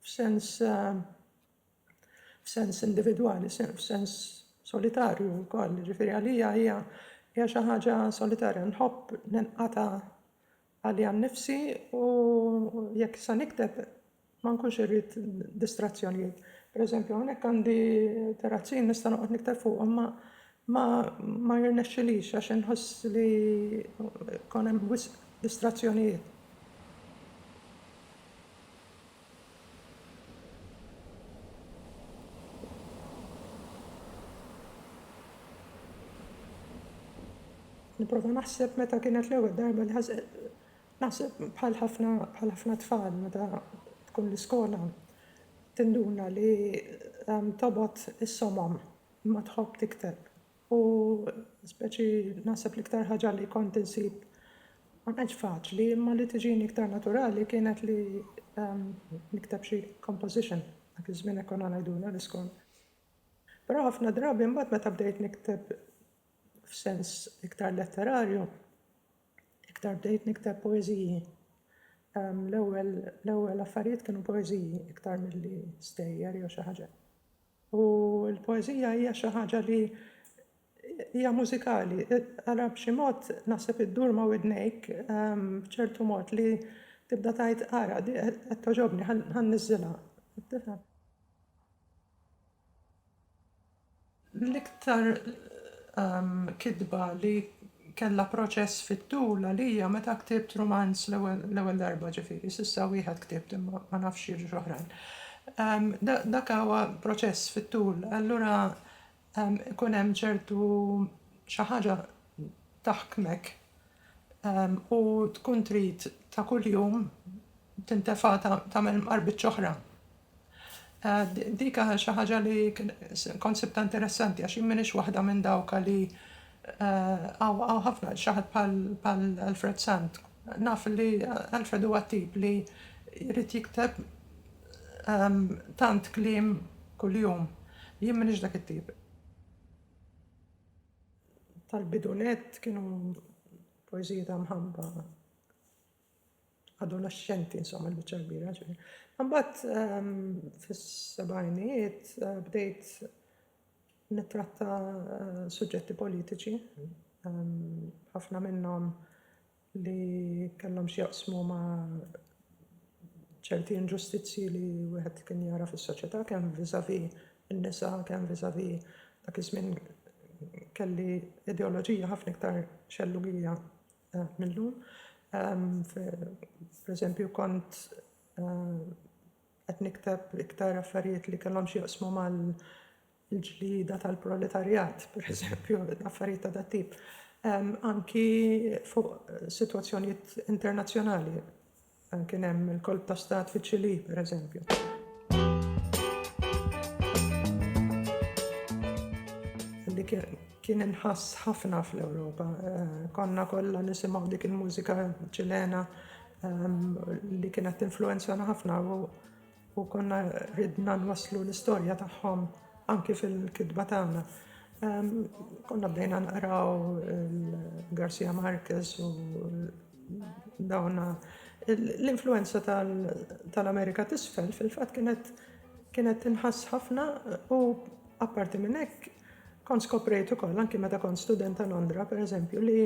f'sens f'sens individwali, f'sens solitarju wkoll, jiġifieri għalija hija hija xi ħaġa solitarja. Nħobb ninqata' għaliha nnifsi u jekk se nikteb ma nkunx irrid distrazzjonijiet. Pereżempju hawnhekk għandi terrazzin nista' noqgħod nikteb fuqhom ma Ma ma jirnexxilix għax inħoss li kon hemm wisq distrazzjonijiet. Nipprova naħseb meta kienet l-ewwel darba li naħseb bħal ħafna bħal ħafna tfal meta tkun l-iskola tinduna li tobgħod is-somom. Imma tħobb tikteb. U speċi naħseb l-iktar ħaġa li kont insib ma kienx faċli imma li tiġini iktar naturali kienet li nikteb xi composition. Dak iż-żmien hekk konna ngħidulha l-iskont. Però ħafna drabi mbagħad meta bdejt nikteb f'sens iktar letterarju, iktar bdejt nikteb poeżiji. L-ewwel affarijiet kienu poeżiji iktar milli stejjer jew xi ħaġa. U l-poeżija hija xi ħaġa li hija mużikali. Ara b'xi mod naħseb iddur ma' widnejk b'ċertu mod li tibda tgħid ara di qed togħġobni ħa nniżżilha. Tifhem? L-iktar kitba li Kellha proċess fit-tul għalija meta ktibt rumanz l-ewwel darba, ġifieri s'issa wieħed ktibt imma ma nafx jiġux oħrajn. Dak huwa proċess fit-tul, allura ikun hemm ċertu xi ħaġa taħkmek u tkun trid ta' kuljum tintefa' tagħmel mqarbitx oħra. Dik xi ħaġa li kont sibtha interessanti għax jien m'iniex waħda minn dawk li hawn ħafna xi ħadd bħal Alfred Sant. Naf li Alfred huwa t-tip li jrid jikteb tant kliem kuljum. Jien m'iniex dak it-tip. Tal-bidu nett kienu poeżiji ta' mħabba. adolexxenti insomma l-biċċa kbira ġifieri. Imbagħad ehm, fis-sebgħinijiet eh, bdejt nittratta eh, suġġetti politiċi, ehm, ħafna minnhom li kellhom x'jaqsmu ma' ċerti inġustizzji li wieħed kien jara fis-soċjetà kemm viżavi n-nisa, kemm viżavi dak iż-żmien kelli ideoloġija ħafna iktar xellugija mill-lum. Pereżempju kont qed nikteb iktar affarijiet li kellhom x'jaqsmu mal-ġlieda tal-proletarjat, pereżempju, affarijiet ta' dat tip. Anki fuq sitwazzjonijiet internazzjonali. Kien hemm il-kolp ta' stat fiċ-Ċilì, per eżempju. Li kien inħass ħafna fl-Ewropa. Konna kollha nisimgħu dik il-mużika ċilena li kienet tinfluwenzana ħafna u U konna ridna nwasslu l-istorja tagħhom anki fil-kitba tagħna. Konna bdejna naqraw il-Garcia Marquez u dawna. L-influenza tal-Amerika t'isfel fil-fatt kienet kienet tinħass ħafna u apparti minn hekk kont skoprejt ukoll anki meta kont student ta' Londra, pereżempju, li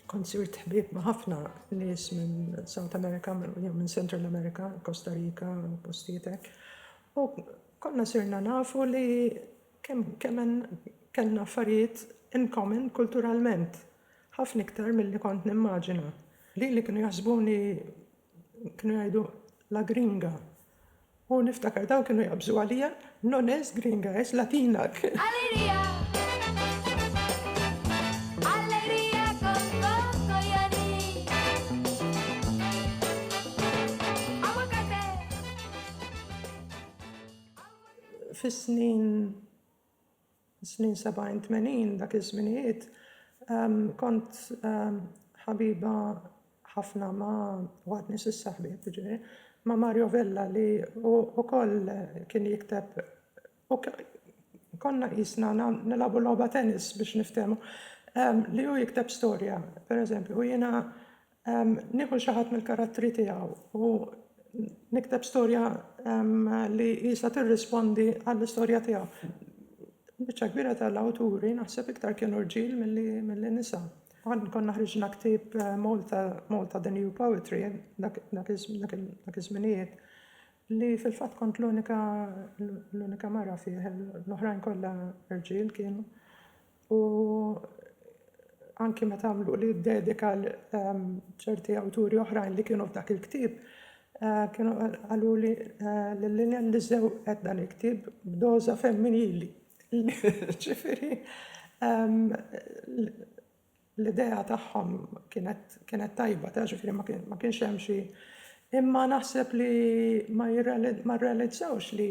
Kont sirt ħbieb ma' ħafna nies minn South America jew minn Central America, Costa Rica u postijiet hekk. U konna sirna nafu li kemm kemm kellna affarijiet in common kulturalment, ħafna iktar milli kont nimmaġina. Lili kienu jaħsbuni kienu jgħidu la gringa. U niftakar dawn kienu jaqbżu għalija, No nez gringa, es latina! Alegria Alegria con coco y anís Aguacate Aguacate Fis-snin Snin sebgħin tmenin dak iż-żminijiet kont ħabiba ħafna ma' u għad nies issa ħbieb jiġifieri, ma' Mario Vella li hu ukoll kien jikteb u konna qisna nilagħbu logħba tennis biex niftehmu li hu jikteb storja pereżempju u jiena Nieħu xi ħadd mill-karattri tiegħu u nikteb storja li qisha tirrispondi għall-istorja tiegħu. Biċċa kbira tal-awturi naħseb iktar kienu rġiel milli nisa. Konna ħriġna ktieb Malta, Malta the New Poetry, dak iż-żminijiet, li fil-fatt kont l-unika mara fih, l-oħrajn kollha rġiel kienu. u anki meta għamluli d-dedika ċerti awturi oħrajn li kienu f'dak il-ktieb kienu qaluli li Lilian li żewqet dan il-ktieb b'doża femminili. Ġifieri l-idea tagħhom kienet tajba, taf ġifieri ma kienx hemm xi imma naħseb li ma rrealizzawx li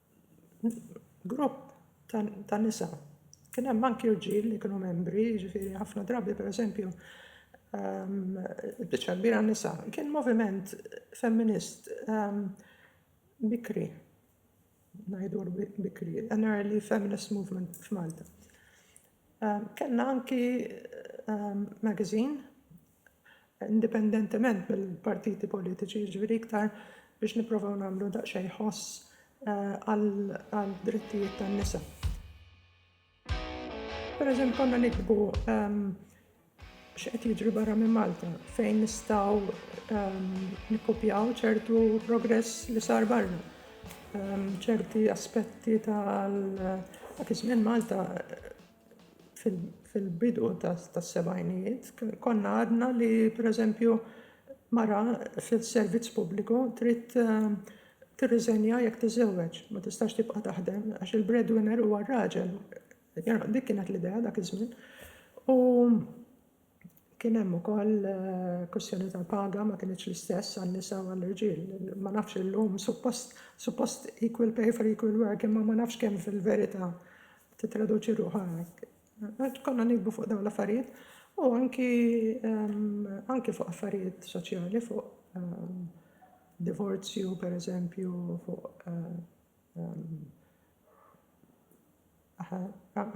grupp ta' nisa. Kien hemm anki rġiel li kienu membri, ġifieri ħafna drabi pereżempju ehm, biċċa kbira nisa. Kien moviment femminist ehm, bikri, ngħidu bikri, an early feminist movement f'Malta. Ehm, kellna anki magazine indipendentement mill-partiti politiċi, jiġifieri iktar biex nipprovaw nagħmlu daqsxejn ħoss għad-drittijiet tan-nisa. Pereżempju konna niktbu x'qed jiġri barra minn Malta fejn nistgħu nikkopjaw ċertu progress li sar barra. ċerti aspetti ta' dak iż-żmien Malta fil-bidu tas-sebgħinijiet konna għadna li pereżempju mara fis-servizz pubbliku trid eh, tirriżenja jekk tiżżewweġ, ma tistax tibqa' taħdem għax il-breadwinner huwa r-raġel. Dik kienet l-idea dak iż-żmien. U Kien hemm ukoll kwistjoni tal-paga ma kinitx l-istess għan-nisa u għall-irġiel. Ma nafx illum suppost suppost equal pay for equal work imma ma nafx kemm fil-verità titraduċi ruħha hekk. Għax konna nikbu fuq dawn l-affarijiet u anki anki fuq affarijiet soċjali fuq divorzju pereżempju fuq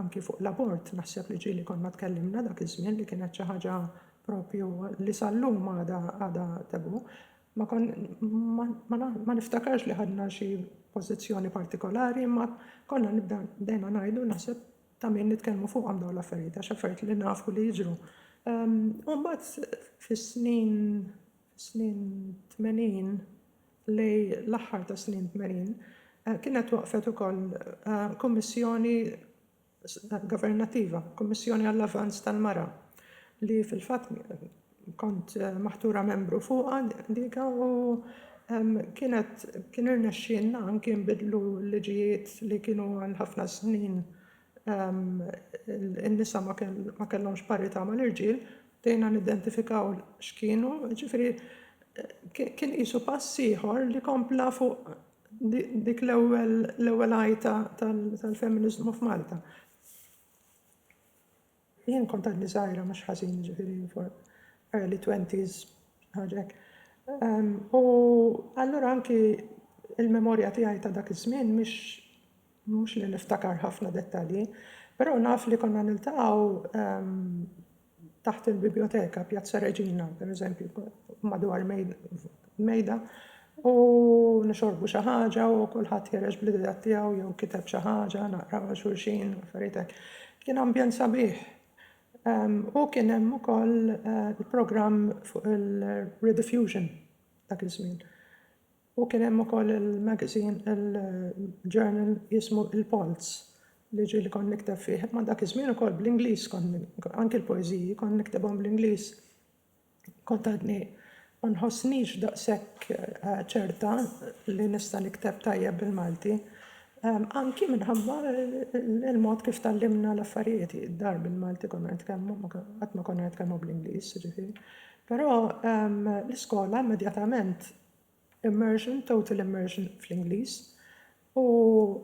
Anki fuq l-abort naħseb li ġieli konna tkellimna dak iż-żmien li kienet xi ħaġa propju li sal-lum għadha għadha tabu. Ma kon ma, ma na- ma niftakarx li ħadna xi pożizzjoni partikolari imma konna nibda bdejna ngħidu naħseb ta' min nitkellmu fuqhom dawn l-affarijiet għax affarijiet li nafu li jiġru. Ehm, U mbagħad fis-snin fis-snin 80 li l-aħħar tas-snin tmenin kienet waqqfet ukoll kummissjoni governattiva, Kummissjoni għall-Avvanz tal-Mara, li fil-fatt kont maħtura membru fuqha dika u kienet kien irnexxielna anki nbiddlu l-liġijiet li kienu għal ħafna snin in-nisa ma kellhomx parità mal-irġiel, bdejna nidentifikaw x'kienu, jiġifieri kien qisu pass ieħor li kompla fuq dik l-ewwel għajta tal-femminizmu f'Malta. Jien kont għadni żgħira mhux ħażin jiġifieri for early twenties xi ħaġa hekk. U allura anki il-memorja tiegħi ta' dak iż-żmien mhix mhux li niftakar ħafna dettalji, però naf li konna niltaqgħu taħt il-bibjoteka, Pjazza Reġina, pereżempju, madwar mejda u nixorbu xi ħaġa u kulħadd ħereġ bl-ideat tiegħu jew kiteb xi ħaġa, naqraw għal xulxin, affarijiet hekk. Kien ambjent sabiħ. U kien hemm ukoll il-programm fuq il-rediffusion dak iż-żmien. U kien hemm ukoll il-magazine, il-journal jismu il-Pulse li ġie li kont nikteb fih. Ma dak iż-żmien ukoll bl-Ingliż kont anki l-poeżiji kont niktibhom bl-Ingliż. Kont għadni ma nħossnix daqshekk ċerta li nista' nikteb tajjeb bil-Malti, anki minħabba l-mod kif tgħallimna l-affarijiet, id-dar bil-Malti konna nitkellmu, qatt ma konna nitkellmu bl-Ingliż, jiġifieri. Però l-iskola immedjatament immersion, total immersion fl-Ingliż, u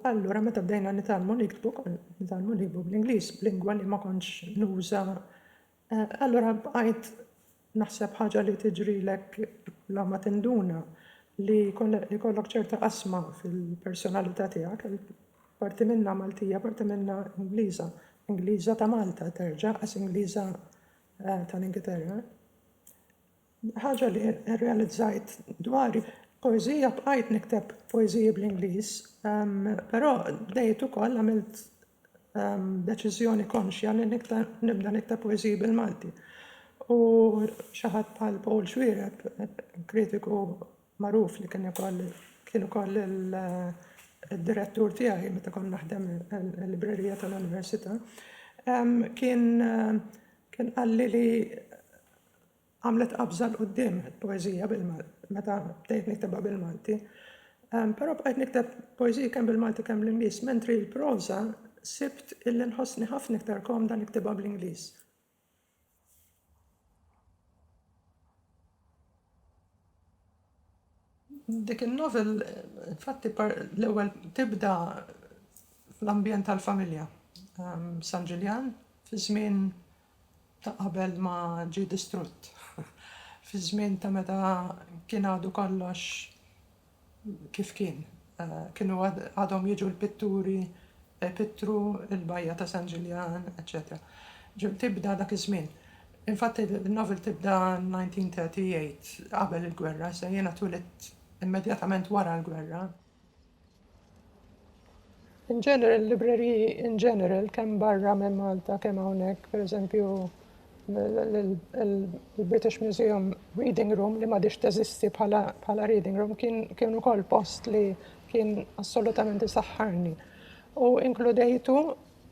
allura meta bdejna nitgħallmu niktbu, konna nitgħallmu nikbu bl-Ingliż, b'lingwa li ma kontx nuża Allura bqajt naħseb ħaġa li tiġrilek bla ma tinduna li jkollok ċerta qasma fil-personalità tiegħek, parti minnha Maltija, parti minnha Ingliża. Ingliża ta' Malta terġa' għax Ingliża eh, tal-Ingilterra. Ħaġa li rrealizzajt dwari poezija bqajt nikteb poeziji bl-Ingliż, ehm, però bdejt ukoll għamilt deċiżjoni konxja li nibda nikteb poeżiji bil-Malti. U xi ħadd bħal Paul Xuereb, kritiku magħruf li kien ukoll kien ukoll il-direttur tiegħi meta kont naħdem il-librerija tal-Università, kien kien qalli li Għamlet qabża 'l quddiem il-poeżija bil-Malti meta bdejt niktebha bil-Malti. Però bqajt nikteb poeżiji kemm bil-Malti kemm bl-Ingliż, mentri l-proża sibt illi nħossni ħafna iktar komda niktibha bl-Ingliż. Dik in-novel infatti l-ewwel tibda fl-ambjent tal-familja. San Ġiljan fiż-żmien ta' qabel ma ġie distrutt. Fiż-żmien ta' meta kien għadu kollox kif kien. Kienu għadhom jiġu l-pitturi ipittru l-bajja ta' San Ġiljan, eċċetera. Ġieli tibda dak iż-żmien. Infatti n-novel tibda 1938, qabel il-gwerra, issa jiena twilidt immedjatament wara l-gwerra. In general, libreriji in general, kemm barra minn Malta, kemm hawnhekk, pereżempju, il-British Museum Reading Room li m'għadhiex teżisti bħala reading room kien ukoll post li kien assolutament isaħħarni. U inkludejtu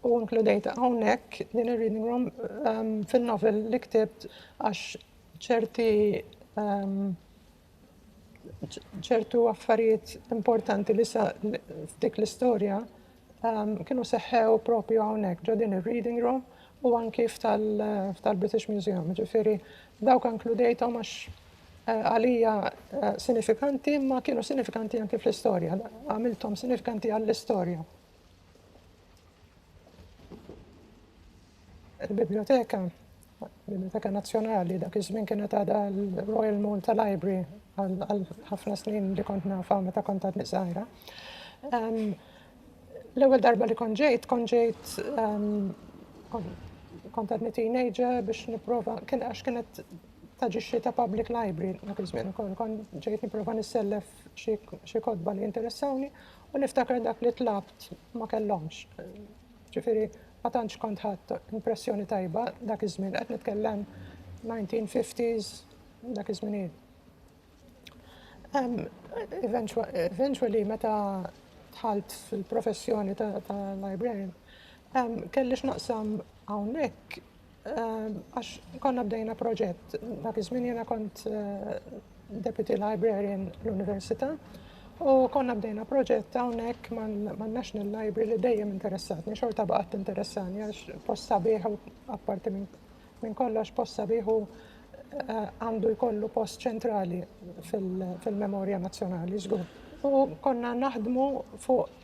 u inkludejt hawnhekk din ir-reading room ehm, fin-novel li ktibt għax ċerti ehm, ċertu affarijiet importanti li sa f'dik l-istorja ehm, kienu seħħew propju hawnhekk ġo din ir-reading room u anki f'tal-British Museum. Ġifieri dawk inkludejthom għax eh, għalija eh, sinifikanti ma kienu sinifikanti anki fl-istorja, għamilthom sinifikanti għall-istorja. Il-Bibljoteka, Bibljoteka Nazzjonali, dak iż-żmien kienet għadha l-Royal Malta Library għal ħafna snin li kont nafa meta kont għadni żgħira. L-ewwel darba li kont ġejt, kont ġejt kont għadni teenager biex nipprova, kien għax kienet taġixxi ta' public library dak iż-żmien ukoll, kont ġejt nipprova nissellef xi kodba li interessawni u niftakar dak li tlabt ma kellhomx. Ġifieri, ma tantx kont ħadt impressjoni tajba dak iż-żmien, qed nitkellem 1950s, dak iż-żminijiet. Eventually meta dħalt fil-professjoni ta' librarian, kelli x'naqsam hawnhekk Għax konna bdejna proġett, dak iż-żmien jiena kont deputy librarian l-Università u konna bdejna proġett hawnhekk man-National Library li dejjem interessatni, xorta baqgħet tinteressani għax post sabiħ u apparti minn kollox post sabiħ u għandu jkollu post ċentrali fil-memorja nazzjonali żgur. U konna naħdmu fuq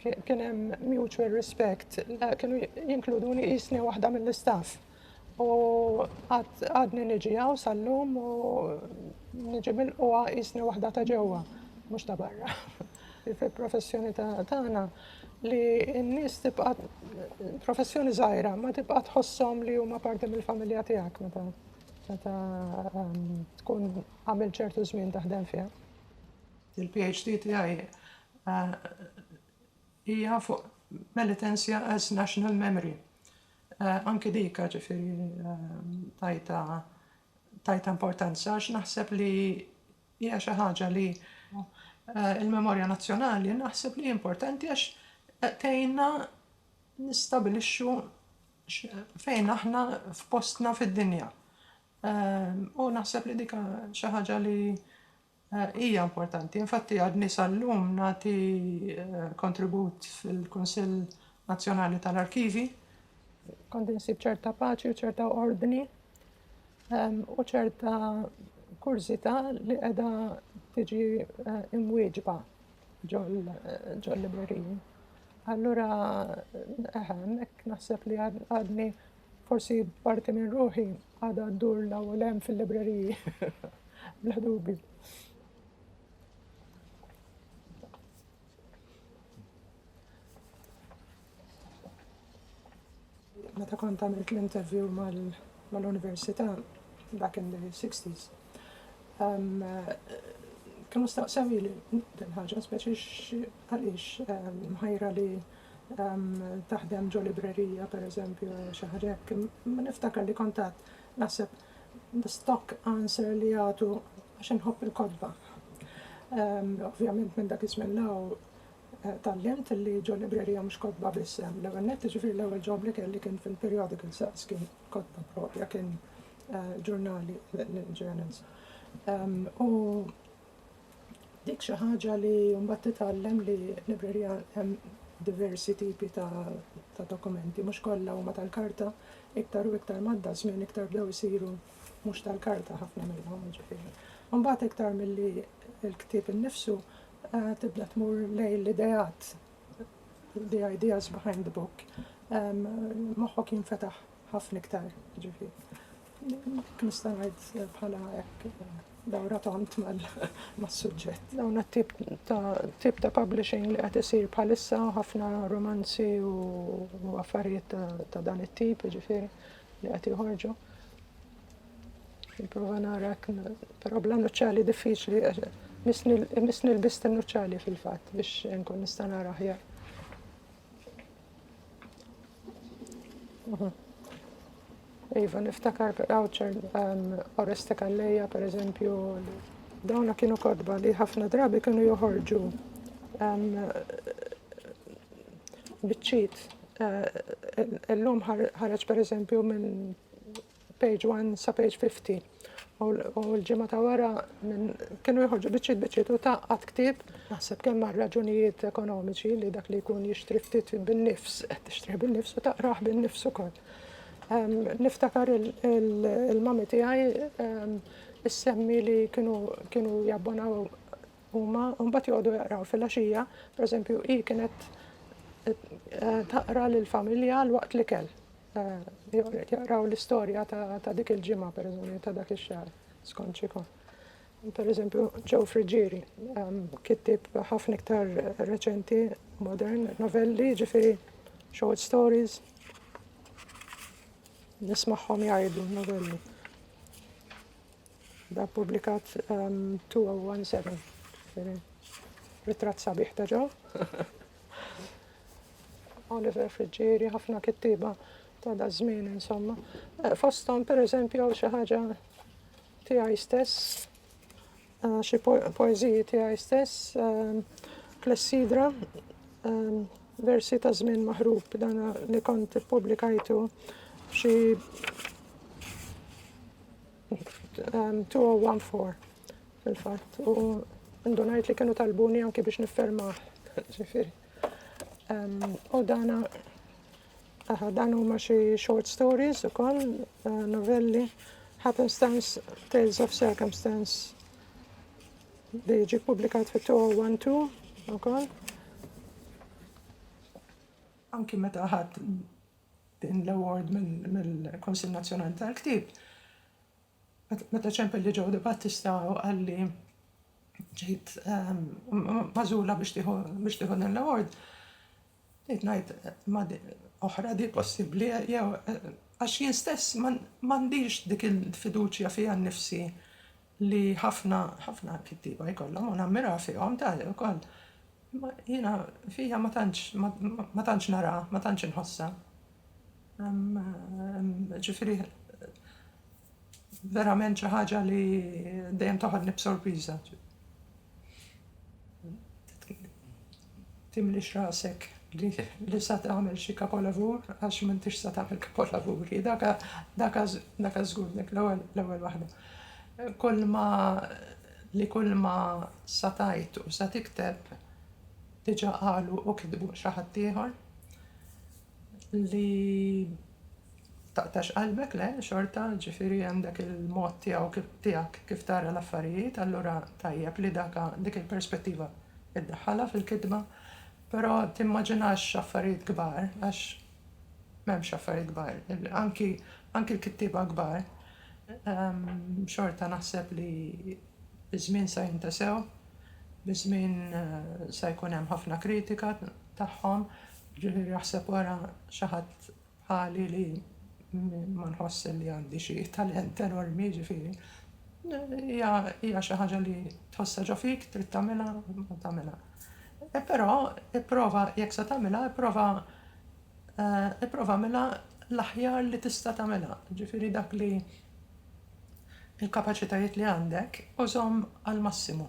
kien hemm mutual respect, kienu jinkluduni jisni waħda mill-istaff. U għadni niġi għaw sal-lum u niġi mill-qwa jisni waħda ta' ġewwa, mhux ta' barra. Il-professjoni tagħna li n-nies tibqa' professjoni żgħira ma tibqa' tħossom li huma parti mill-familja tiegħek meta meta ehm, tkun għamil ċertu żmien taħdem fiha. Il-PhD tiegħi hija fuq Penitentia as National Memory. Anki dik ġifieri tajta tajta importanza għax naħseb li hija xi ħaġa li il-memorja nazzjonali naħseb li importanti għax tgħinna nistabilixxu fejn aħna f'postna fid-dinja. U naħseb li dik xi ħaġa li Hija importanti. Infatti għadni sal-lum nagħti kontribut fil-Kunsill Nazzjonali tal-Arkivi. Kont insib ċerta paċi u ċerta ordni ehm, u ċerta kurzita li qiegħda tiġi eh, imwieġba ġol-libreriji. Allura, eħem, eh, naħseb li għadni Forsi parti minn ruħi għadha ddur law u lem fil-libreriji. Bla dubi. Meta kont għamilt l-interview mal-università back in the 60s, Kienu staqsewili din ħaġa, speċi għaliex mħajra li taħdem ġo librerija, per eżempju, xi ħaġa hekk. Niftakar li kont għad naħseb the stock answer li jagħtu għax inħobb il-kotba. Ovvjament minn dak iż-żmien l-hawn eh, tallimt li ġo librerija mhux kotba biss hemm. L-ewwel nett, ġifieri l-ewwel ġobli kelli kien fil-periodical saqs kien. kotba proprja kien ġurnali l-Journals. U dik xi ħaġa li mbagħad titgħallem li librerija hemm diversi tipi ta' dokumenti, mhux kollha huma tal-karta, iktar u iktar madda żmien iktar bdew isiru mhux tal-karta ħafna minnhom ġifieri. Mbagħad iktar milli l-ktieb innifsu eh, tibda tmur lejn l-ideat the ideas behind the book, moħħok jinfetaħ ħafna iktar, ġifi. Nista' ngħid bħala hekk dawra tont mas-suġġett. Dawn tip ta' tip ta' publishing li qed isir bħalissa ħafna romanzi u affarijiet ta' dan it-tip, ġifieri li qed joħorġu. Prova nara, pero bla nuċċali diffiċli, misni l-bist nuċċali fil-fat biex nkun nista' nara ħjar. Mhm. Iva, niftakar għawċer um, Oreste Kalleja, per eżempju, dawna kienu kodba li ħafna drabi kienu joħorġu um, bitċit. Uh, illum ħareġ per eżempju minn page 1 sa page 50. U l-ġimgħa ta' wara kienu jħorġu biċċiet biċċiet u ta' qatt ktieb naħseb kemm għal raġunijiet ekonomiċi li dak li jkun jixtri ftit bin-nifs qed tixtrih bin-nifs u taqrah bin-nifs ukoll. Ehm, niftakar il-mami tiegħi ehm, issemmi li kienu jabbonaw huma u mbagħad joqogħdu jaqraw fil-għaxija, pereżempju hi kienet eh, taqra lill-familja l-waqt li kell jaqraw l-istorja ta' dik il-ġimgħa pereżempju ta' dak ix-xahar skont xikun. Pereżempju Joe Friggieri ehm, kittib ħafna iktar reċenti, modern, novelli, ġifieri short stories. Nismagħhom jgħidu novelli. Da publikat 2017. Um, Ritrat sabiħ ta' ġo. Oliver Friġġieri, ħafna kittiba ta' da' żmien insomma. Eh, fosthom pereżempju għaw xi ħaġa tiegħi stess, eh, xi poeżiji tiegħi stess, eh, klessidra, versi ta' żmien maħrub dan li kont ippubblikajtu xi 2014 fil-fatt u ndunajt li kienu talbuni anki biex niffermaħ. Ġifieri. U dana dan huma xi short stories ukoll, eh, novelli, Happenstance, Tales of Circumstance li ġi publikat fit-2012 ukoll. Anki meta ħadd Din l-award mill-Kunsill Nazzjonali tal-Ktieb, meta ċempel li Joe Debattista u qalli ġejt magħżula biex tieħu din l-award, bdejt ngħid ma oħra di possibbli jew għax jien stess m'għandix dik il-fiduċja fija nnifsi li ħafna, ħafna kittieba jkollhom u nammira fihom tali wkoll. Imma jiena fija ma tantx, ma tantx nara, ma tantx inħossa. Ġifieri verament xi ħaġa li dejjem toħodni b'sorpriża. Timlix rasek li sa tagħmel xi kapolavur għax m'intix sa tagħmel kapolavuri. Daka żgur dik l-ewwel waħda. Kulma li kulma sa tgħid u sa tikteb diġà qalu u kitbu xi ħaddieħor. li taqtax qalbek le xorta ġifieri hemm dak il-mod tiegħu tiegħek kif tara l-affarijiet allura tajjeb li daka dik il-perspettiva iddaħħalha fil-kitba però timmaġinax affarijiet kbar għax m'hemmx affarijiet kbar anki anki l-kittieba kbar xorta naħseb li biż-żmien sa jintesew biż-żmien sa jkun hemm ħafna kritika tagħhom Jiġifieri aħseb ara xi ħadd bħali li ma nħoss li għandi xi talent enormi, jiġifieri hija xi ħaġa li tħossha ġo fik, trid tagħmilha, tagħmilha. Però ipprova, jekk se tagħmilha, ipprova ipprova agħmilha l-aħjar li tista' tagħmilha, jiġifieri dak li l-kapaċitajiet li għandek użhom għall-massimu.